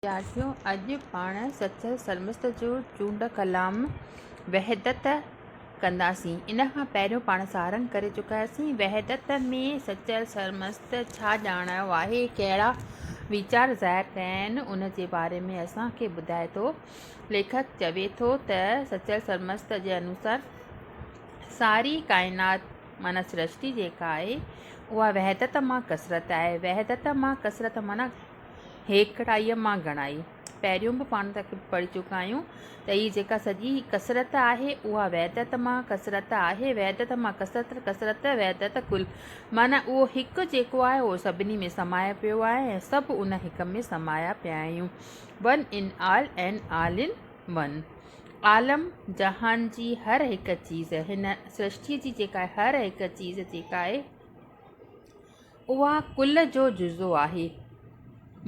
ويجاهيو اڄ پاڻ سچ سرمست جو چونڊ ڪلام وحدت ڪنداسين ان کان پهريون پاڻ سارنگ ڪري چڪا آهياسين وحدت ۾ سچ سرمست ڇا ڄاڻايو آهي ڪهڙا ويچار ظاهر ڪيا آهن ان جي باري ۾ اسان کي ٻڌائي ٿو ليکڪ چوي ٿو ته سچ سرمست جي انوسار ساري ڪائنات معنيٰ سرشتي جيڪا آهي اها وحدت مان ڪثرت آهي وحدت مان ڪثرت معنيٰ هيڪڙائيء مان گهڻائي پهريون به پاڻ تاڪي پڙهي چڪا آهيون ته هي جيڪا سڄي ڪثرت آهي اها وحدت مان ڪثرت آهي، وحدت مان ڪثرت، ڪثرت وحدت ڪل معنيٰ اهو هڪ جيڪو آهي اهو سڀني ۾ سمايو پيو آهي ۽ سڀ ان هڪ ۾ سمايا پيا آهيون one in all and all in one عالم جهان جي هر هڪ چيز هن سرشتيء جي جيڪا هر هڪ چيز جيڪا آهي اها ڪل جو جزو آهي.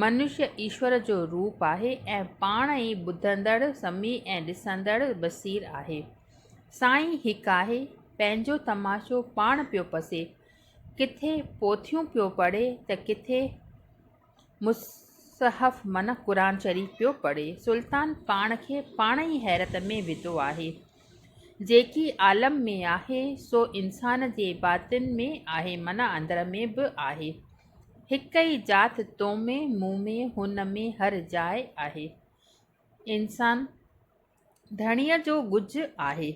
منشي ايشور جو روپ آهي ۽ پاڻ ئي ٻڌندڙ، سميع ۽ ڏسندڙ، بصير، آهي. سائين هڪ آهي، پنهنجو تماشو پاڻ پيو پسي، ڪٿي پوٿيون پيو پڙهي ته ڪٿي مصحف من قرآن شريف پيو پڙهي. سلطان پاڻ کي پاڻ ئي حيرت ۾ وڌو آهي. جيڪي عالم ۾ آهي سو انسان جي باطن ۾ آهي من اندر ۾ به آهي. هڪ ئي ذات تو ۾، مون ۾، هن ۾، هر جاء آهي. انسان ڌڻيء جو ڳجهه آهي.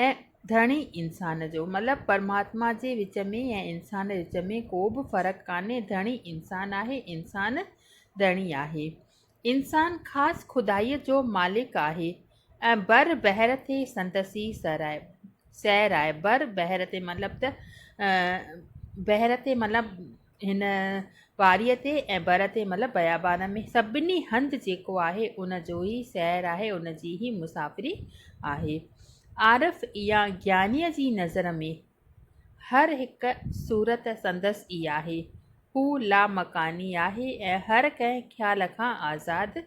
۽ ڌڻي انسان جو مطلب پرماتما جي وچ ۾ ۽ انسان جي وچ ۾ ڪو به فرق ڪانهي ڌڻي انسان آهي انسان ڌڻي آهي انسان خاص خدائي جو مالڪ آهي ۽ بر بحر تي سندس ئي سر آهي سير آهي بر بحر تي مطلب ته بحر تي مطلب هن واريء تي ۽ بر تي مطلب بيابان ۾ سڀني هنڌ جيڪو آهي ان جو ئي سير آهي ان جي ئي مسافري آهي عارف يا گيانيء جي نظر ۾ هر هڪ صورت سندس ئي آهي هو لامڪاني آهي ۽ هر ڪنهن خيال کان آزاد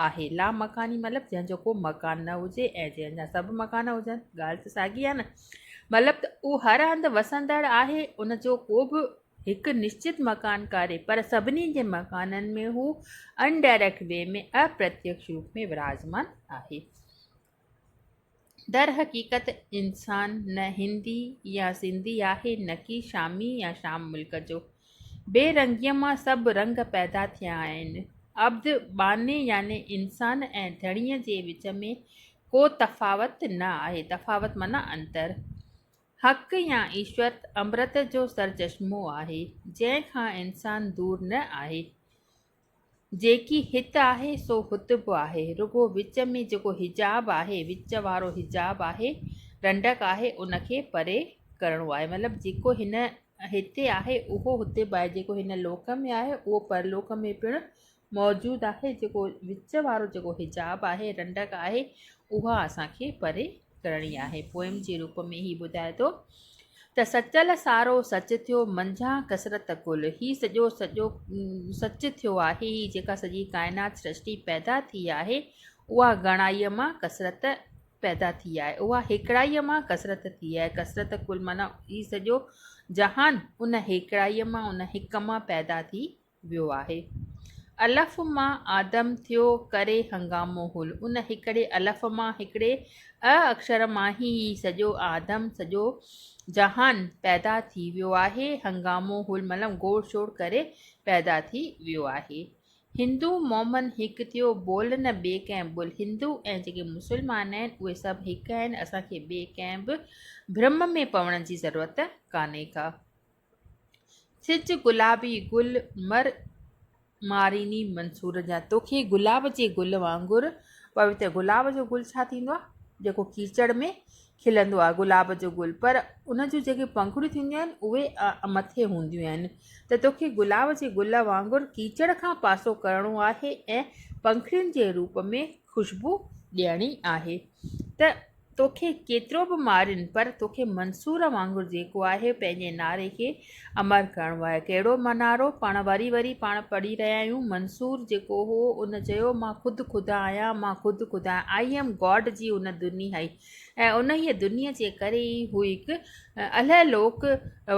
آهي. لامڪاني مطلب جنهن جو ڪو مڪان نه هجي ۽ جنهن جا سڀ مڪان هجن. ڳالهه ته ساڳي آهي نه. مطلب ته اهو هر هنڌ وسندڙ آهي، ان جو ڪو به هڪ نشچت مڪان ڪاري، پر سڀني جي مڪانن ۾ هو Undirect Way ۾ اپرتيڪش روپ ۾ وراجمان آهي. در حقيقت انسان نه هندي يا سنڌي آهي نه ڪي شامي يا شام ملڪ جو. بي رنگيء مان سڀ رنگ پيدا ٿيا آهن. عبد، ٻانهي يعني انسان ۽ ڌڻيء جي وچ ۾ ڪو تفاوت نه آهي، تفاوت معنيٰ انتر. حق يا ايشور امرت جو سرچشمو آهي، جنهن کان انسان دور نه آهي. جيڪي هت آهي سو هت به آهي، رڳو وچ ۾ جيڪو حجاب آهي، وچ وارو حجاب آهي، ڏنڊڪ آهي، ان کي پري ڪرڻو آهي. مطلب جيڪو هن هتي آهي اهو هتي به آهي، جيڪو هن لوڪ ۾ آهي اهو پرلوڪ ۾ پڻ موجود آهي، جيڪو وچ وارو جيڪو حجاب آهي، ڏنڊڪ آهي، اها اسان کي پري ڪرڻي آهي. پوئم جي روپ ۾ هي ٻڌائي ٿو ته سچل سارو سچ ٿيو، منجهان ڪثرت ڪل، هي سڄو سڄو سچ ٿيو آهي، هي جيڪا سڄي ڪائنات سرشٽي پيدا ٿي آهي، اها گهڻائيء مان ڪثرت پيدا ٿي آهي، اها هيڪڙائيء مان ڪثرت ٿي آهي، ڪثرت ڪل معنيٰ هي سڄو جهان ان هيڪڙائيء مان، ان هڪ مان پيدا ٿي ويو آهي. الف مان آدم ٿيو ڪري هنگامو هول ان هڪڙي الف مان هڪڙي اء اکر مان هي هي سڄو آدم سڄو جهان پيدا ٿي ويو آهي هنگامو هول مطلب گوڙ شوڙ ڪري پيدا ٿي ويو آهي هندو مومن هڪ ٿيو بول نه ٻي ڪنهن بول هندو ۽ جيڪي مسلمان آهن اهي سڀ هڪ آهن اسان کي ٻي ڪنهن به برم ۾ پوڻ جي ضرورت ڪانهي ڪا. سج گلابي گل مر ماريني منصور جا توکي گلاب جي گل وانگر پويتر گلاب جو گل ڇا ٿيندو آ جيڪو ڪيچڙ ۾ کلندو آ گلاب جو گل پر ان جون جيڪي پنکڙيون ٿينديون آهن اهي مٿي هونديون آهن ته توکي گلاب جي گل وانگر ڪيچڙ کان پاسو ڪرڻو آهي ۽ پنکڙين جي روپ ۾ خوشبو ڏيڻي آهي ته توکي ڪيترو به مارين پر توکي منصور وانگر جيڪو آهي پنهنجي نعري کي امر ڪرڻو آهي ڪهڙو نعرو پاڻ وري وري پاڻ پڙهي رهيا آهيون منصور جيڪو هو ان چيو مان خود خدا آهيان مان خود خدا آهيان I am God جي ان دني هئي ۽ انهيء دني جي ڪري ئي هو هڪ الهه لوڪ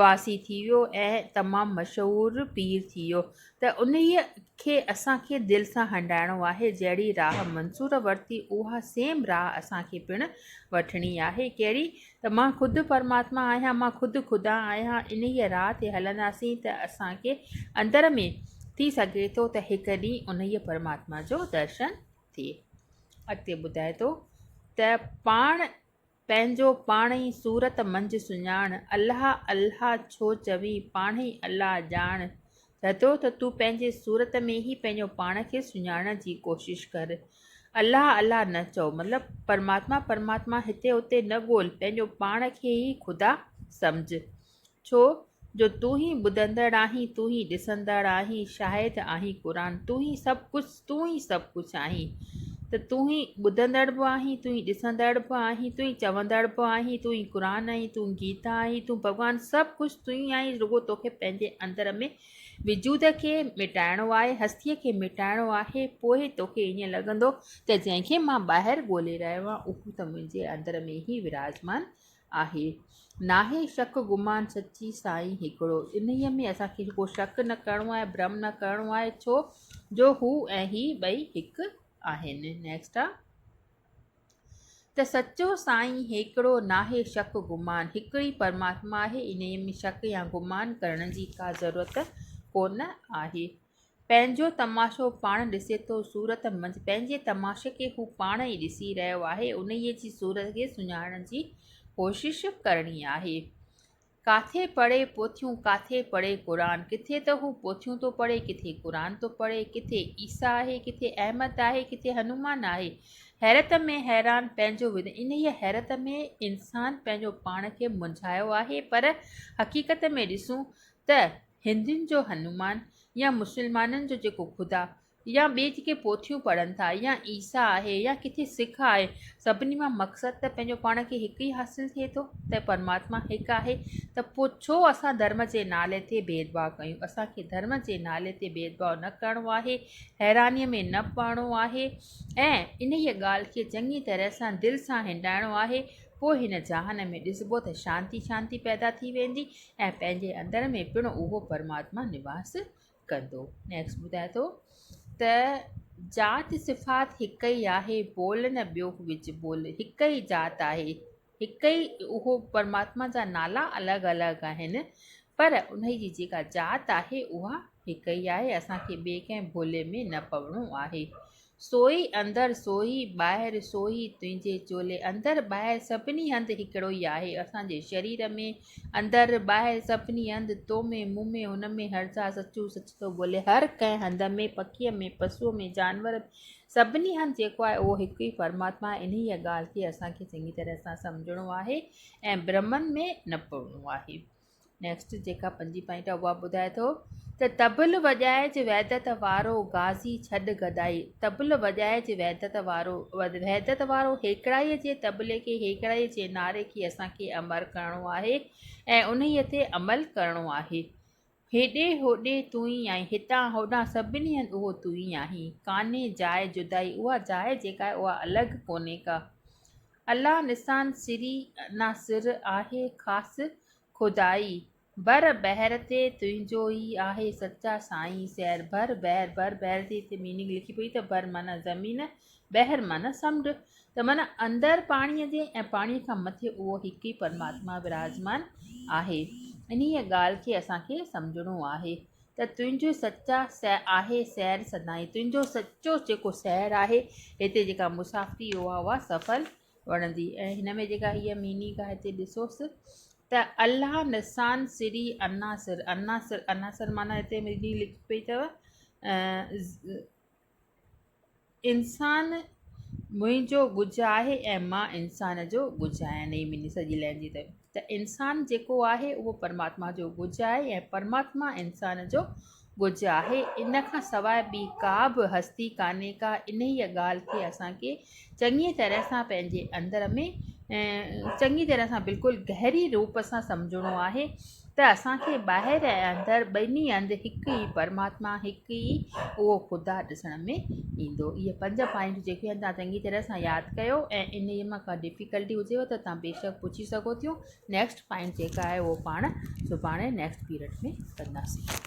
واسي ٿي ويو ۽ تمام مشهور پير ٿي ويو ته انهيء کي اسان کي دل سان هنڊائڻو آهي، جهڙي راهه منصور ورتي، اها سيم راهه اسان کي پڻ وٺڻي آهي. ڪهڙي؟ ته مان خود پرماتما آهيان، مان خود خدا آهيان. انهيء راهه تي هلنداسين ته اسان کي اندر ۾ ٿي سگهي ٿو ته هڪ ڏينهن انهيء پرماتما جو درشن ٿئي. اڳتي ٻڌائي ٿو ته پاڻ. پنهنجو پاڻ ئي صورت منجهه سڃاڻ، الله الله ڇو چوين، پاڻ ئي الله ڄاڻ، چئتو ته تون پنهنجي صورت ۾ ئي پنهنجو پاڻ کي سڃاڻڻ جي ڪوشش ڪر، الله الله نه چئو، مطلب پرماتما پرماتما هتي هتي نه ڳول، پنهنجو پاڻ کي ئي خدا سمجهه. ڇو جو تون ئي ٻڌندڙ آهين، تون ئي ڏسندڙ آهين، شاهد آهين قرآن، تون ئي سڀ ڪجهه، تون ئي سڀ ڪجهه آهين ته تون ئي ٻڌندڙ به آهين، تون ئي ڏسندڙ به آهين، تون ئي چوندڙ به آهين، تون ئي قرآن آهين، تون گيتا آهين، تون ڀڳوان، سڀ ڪجهه تون ئي آهين، رڳو توکي پنهنجي اندر ۾ وجود کي مٽائڻو آهي، هستيء کي مٽائڻو آهي، پوء توکي ائين لڳندو ته جنهن کي مان ٻاهر ڳولي رهيو آهيان اهو ته منهنجي اندر ۾ ئي وراجمان آهي ناهي شڪ گمان سچي سائين هڪڙو انهي ۾ اسان کي ڪو شڪ نه ڪرڻو آهي برم نه ڪرڻو آهي ڇو جو هو ۽ هي ٻئي هڪ آهن نيڪسٽ آ ته سچو سائين هيڪڙو ناهي شڪ گمان هڪڙي پرماتما آهي انهي ۾ شڪ يا گمان ڪرڻ جي ڪا ضرورت ڪونه آهي پنهنجو تماشو پاڻ ڏسي ٿو صورت منجهه پنهنجي تماشي کي هو پاڻ ئي ڏسي رهيو آهي انهيء جي صورت کي سڃاڻڻ جي ڪوشش ڪرڻي آهي ڪاٿي پڙهي پوٿيون ڪاٿي پڙهي قرآن ڪٿي ته هو پوٿيون ٿو پڙهي ڪٿي قرآن ٿو پڙهي ڪٿي عيسيٰ آهي ڪٿي احمد آهي ڪٿي هنومان آهي حيرت ۾ حيران پنهنجو انهيء حيرت ۾ انسان پنهنجو پاڻ کي منجهايو آهي پر حقيقت ۾ ڏسون ته هندين جو هنومان يا مسلمانن جو جيڪو خدا يا ٻي جيڪي پوٿيون پڙهن ٿا يا عيسيٰ آهي يا ڪٿي سک آهي سڀني مان مقصد ته پنهنجو پاڻ کي هڪ ئي حاصل ٿئي ٿو ته پرماتما هڪ آهي ته پوء ڇو اسان ڌرم جي نالي تي ڀيدڀاء ڪيون اسان کي ڌرم جي نالي تي ڀيدڀاء نه ڪرڻو آهي حيرانيء ۾ نه پوڻو آهي ۽ انهيء ڳالهه کي چڱي طرح سان دل سان هنڊائڻو آهي پوء هن جهان ۾ ڏسبو ته شانتي شانتي پيدا ٿي ويندي ۽ پنهنجي اندر ۾ پڻ اهو پرماتما نواس ڪندو. Next ٻڌائي ٿو ته ذات صفات هڪ ئي آهي بول نه ٻيو وجهه بول هڪ ئي ذات آهي هڪ ئي اهو پرماتما جا نالا الڳ الڳ آهن پر انهي جي جيڪا ذات آهي اها هڪ ئي آهي اسان کي ٻئي ڪنهن بولي ۾ نه پوڻو آهي سوئي اندر سوئي ٻاهر سوئي تنهنجي چولي اندر ٻاهر سڀني هنڌ هڪڙو ئي آهي اسان جي شرير ۾ اندر ٻاهر سڀني هنڌ تو ۾ مون ۾ هن ۾ هر ذات سچو سچ ٿو ٻولي هر ڪنهن هنڌ ۾ پکيء ۾ پسوء ۾ جانور ۾ سڀني هنڌ جيڪو آهي اهو هڪ ئي پرماتما آهي انهيء ڳالهه کي اسان کي چڱي طرح سان سمجهڻو آهي ۽ برهمن ۾ نه پوڻو آهي نيڪسٽ جيڪا پنجين پوائنٽ آهي اها ٻڌائي ٿو ته طبل وڄائج وحدت وارو غازي ڇڏ گدائي طبل وڄائج وحدت وارو وحدت وارو هيڪڙائي جي طبلي کي هيڪڙائي جي نعري کي اسان کي امر ڪرڻو آهي ۽ انهي تي عمل ڪرڻو آهي هيڏي هوڏي تون ئي آهين هتان هوڏان سڀني هنڌ اهو تون ئي آهين ڪانهي جاء جدائي اها جاء جيڪا آهي اها الڳ ڪونهي ڪا الله نسان سري ناصر آهي خاص خدائي. بر بحر تي تنهنجو ئي آهي سچا سائين سحر بر بحر بر بحر جي هتي ميننگ لکي پئي ته بر معنيٰ زمين بحر معنيٰ سمنڊ ته معنيٰ اندر پاڻي جي ۽ پاڻي کان مٿي اهو هڪ ئي پرماتما وراجمان آهي انهيء ڳالهه کي اسان کي سمجهڻو آهي ته تنهنجو سچا سير آهي سير سدائين تنهنجو سچو جيڪو سير آهي هتي جيڪا مسافري اها اها سفل وڻندي ۽ هن ۾ جيڪا هيء ميننگ آهي هتي ڏسوس ته الله نسان سري عناصر عناصر عناصر معنيٰ هتي ميننگ لکي پئي اٿو انسان منهنجو ڳجهه آهي ۽ مان انسان جو ڳجهه آهيان نئين ميني سڄي لين جي تي ته انسان جيڪو آهي اهو پرماتما جو ڳجهه آهي ۽ پرماتما انسان جو ڳجهه آهي ان کان سواء ٻي ڪا به هستي ڪانهي ڪا انهيء ڳالهه کي اسان کي چڱيء طرح سان پنهنجي اندر ۾ چڱيء طرح سان بلڪل گهري روپ سان سمجهڻو آهي ته اسان کي ٻاهر ۽ اندر ٻنهي هنڌ هڪ ئي پرماتما هڪ ئي اهو خدا ڏسڻ ۾ ايندو اهي پنج پوائنٽ جيڪي آهن تهان چڱي طرح سان ياد ڪيو ۽ انهي مان ڪا ڊفيڪلٽي هجيو ته تهان بيشڪ پڇي سگهو ٿيون نيڪسٽ پوائنٽ جيڪا آهي اهو پاڻ سڀاڻي نيڪسٽ پيريڊ ۾ ڪنداسين